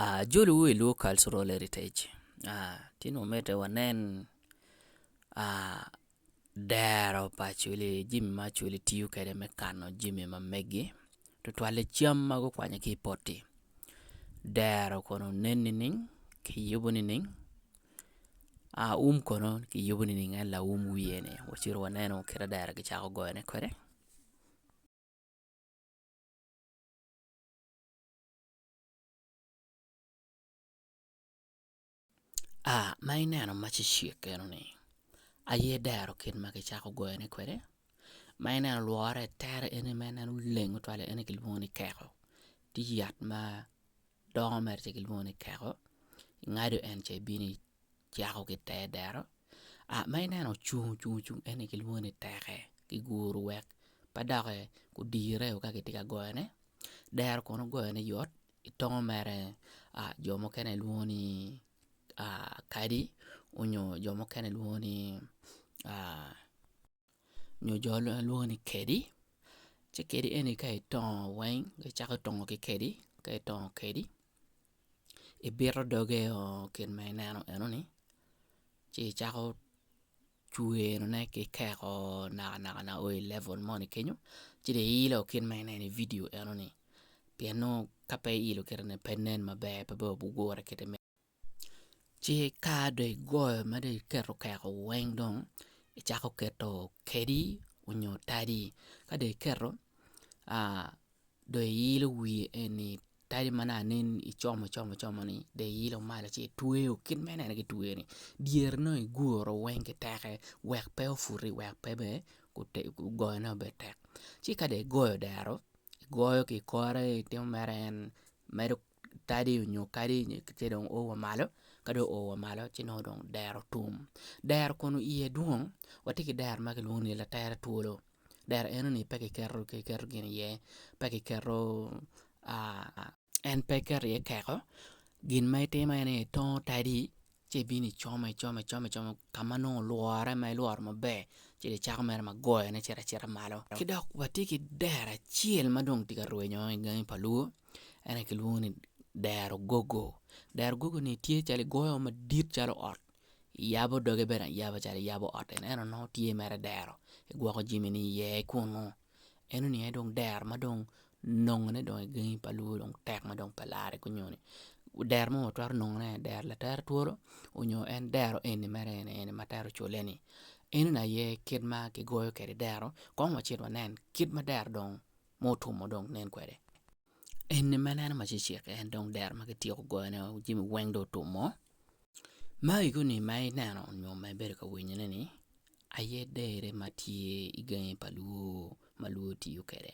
Ajoli wu i lwor cultural heritage ci nongo mite wanen dero pa acoli jami ma acoli tiyo kwede me kano jami ma meggi tutwalle cam ma gukwanyo ki i poti dero kono nen nining kiyubo nining um kono kiyubo nining en laum wiye ni wacito waneno kit ma dero kicako goyone kwede. Aa ma ineno macecek enoni, aye dero kit ma kicako goyone kwede, ma ineno lwore tere ene ma ineno oleng twal ene kilwongo ni keko, tye yat ma dongo mere ci kilwongo ni keko ingado en ci ibino cako ki i te dero ma ineno ocung ocung en aye kilwongo ni teke kiguro wek pe doki odire ka kitye ka goyone dero kono goyone yot i tongo mere jo mukene lwongo ni kadi nyo jo mukene lwongo ni. nyo jo lwongo ni kedi ci kedi eni ka itongo weng icako tongo ki kedi ka itongo kedi ibito doge o kit ma ineno enoni ci icako cwerone ki keko naka naka naka o i level moni kenyo ci dong iilo kit ma ineno i vidio enoni pien nongo ka pe iilo kite-ni pe nen maber pe bene wabigure kite me Ci ka dong igoyo ma dong iketo okeko weng dong icako keto kedi onyo tadi ka dong iketo dong iilo wiye eni tadi ma nongo anen ni icomo icomo icomo ni dong iilo malo ci itweyo kit ma ineno kitweyo ni dyere ni dong iguro weng ki teke wek pe ofuti wek pe bene goyo ne obed tek ci ka dong igoyo odero igoyo ki ikore itimo mere en medo tadi nyo kadi ci dong oo wa malo ka dong oo wa malo ci nongo dong dero tum dero kun iye dwong watye ki dero ma kilwongo ni latere twolo dero eno ni pe kiketo kiketo gin iye pe kiketo en pe kiketo iye keko gin ma itimo en aye itongo tadi ci ibino icomo icomo icomo icomo ka ma nongo olwore ma ilworo maber ci dong icako mere ma goyone cito acita malo ki dok watye ki dero acel ma dong tye ka rwenyo i gangi pa lwo en aye kilwongo ni dero gogo, dero gogo ni tye calo igoyo madit calo ot iyabo doge bene ayaba calo iyabo ot eno nongo tye mere dero igwoko jamini iye kungu. en oniang aye dong dero ma dong nongone dong i gangi pa lwongo dong tek ma dong pe larre ki nyoni dero ma watwero nongone en dero latere twolo nyo en dero eni mere eni eni ma twero cule-ni enoni aye kit ma kigoyo kwede dero kong wacit wanen kit ma dero dong mutum dong nen kwede Eni ma ineno ma cecek-ki en dong dero ma kityeko goyone wek jami weng dong otum oo, ma iguni ma ineno nyo ma ibedo ka winyone-ni aye dere ma tye i gangi pa lwor ma lwor tiyo kwede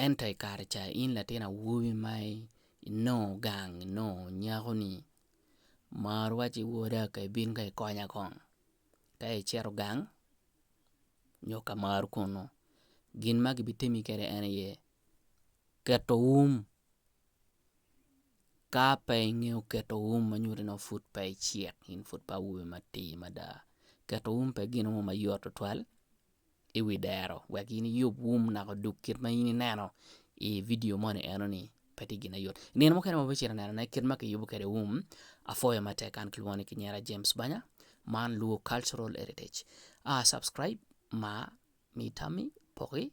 ento i kare ca in latin awobi ma inongo gang inongo nyako-ni mar wacci woda ka ibin ka ikonya kong ka icito gang nyo ka mar kunu gin ma kibitimi kwede en aye keto um ka pe ingeyo keto um ma nyuto ni pud pe icek in pud pe awobi matir mada keto um pe gin mo ma yot tutwal i wi dero wek in iyub um naka odug kit ma in ineno i vidio moni eno ni pe tye gin ma yot i nino mukene ma abicito anenone kit ma kiyubo kwede um apwoyo matek kan kilwongo ni kinyera James Banya man luo cultural heritage subscribe, mar, mi tammi, poki.